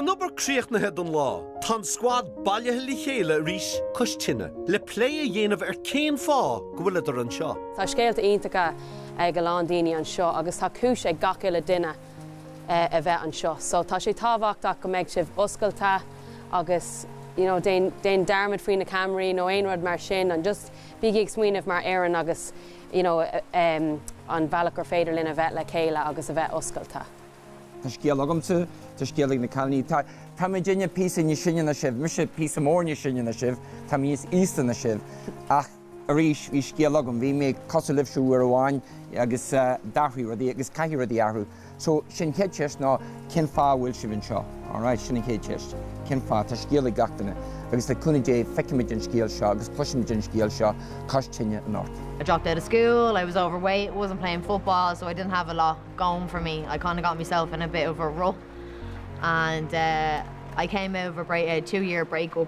An obair críochnaithe don lá. Tá an scuad bailithe le chéile arís cois tine le plé a dhéanamh ar cén fáth go bhfuileadar anseo. Tá scéalta iontacha ag a lán daoine anseo agus tá cúis ag gach uile duine a bheith anseo so tá sé tábhachtach go mbeidh sibh oscailte agus you know déan dearmad faoi na ceamaraí nó aon rud mar sin and just bígí ag smaoineamh mar fhoireann agus you know, an bealach gur féidir linn a bheith le chéile agus a bheith oscailte. Tá scéal agamsa, tá scéal ag na cailíní, tá, táimidne píosa níos sine ná sibh, mise píosa mór níos sine ná sibh, táimid níos aosta ná sibh, ach arís, bhí scéal agam, bhí mé cosúil libhse uair amháin agus d'athraigh rudaí agus caithfidh rudaí athrú. So, sin an chéad cheist ná cén fáth a bhfuil sibh anseo? Alright, sin an chéad cheist. Cén fáth? Tá scéal ag gach duine agus le cúnamh Dé feicimid an scéal seo agus cloisimid an scéal seo cois tine anocht. I dropped out of school, I was overweight, wasn't playing football so I didn't have a lot going for me, I kind of got myself in a bit of a rut and eh, I came out of a break, a two year breakup.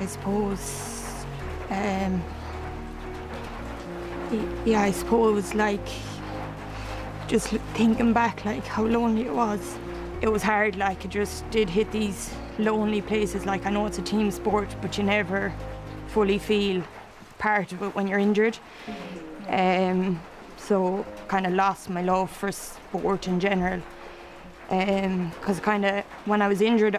I suppose um, yeah, I suppose like just thinking back like how lonely it was. It was hard like it just did hit these lonely places like I know it's a team sport but you never fully feel part of it when you're injured. Um, so kind of lost my love for sport in general because um, kind of when I was injured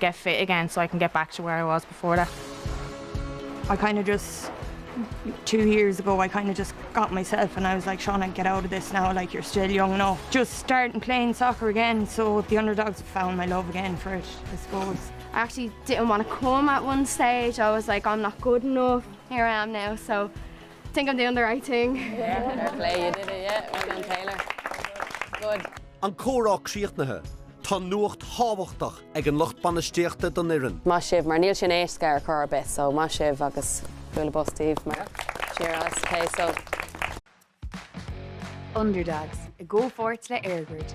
get fit again so I can get back to where I was before that. I kind of just two years ago I kind of just got myself and I was like Shauna get out of this now like you're still young enough just starting playing soccer again so the underdogs have found my love again for it I suppose I actually didn't want to come at one stage I was like I'm not good enough here I am now so I think I'm doing the right thing yeah. play you did it yeah well done Taylor good An córá críochnaithe Tá nuacht thábhachtach ag an lucht bainistíochta don fhoireann. Maith sibh, mar níl sin éasca ar chor ar bith, so maith sibh agus bualadh bos daoibh mar cheers, ok so. Underdogs, i gcomhpháirt le EirGrid.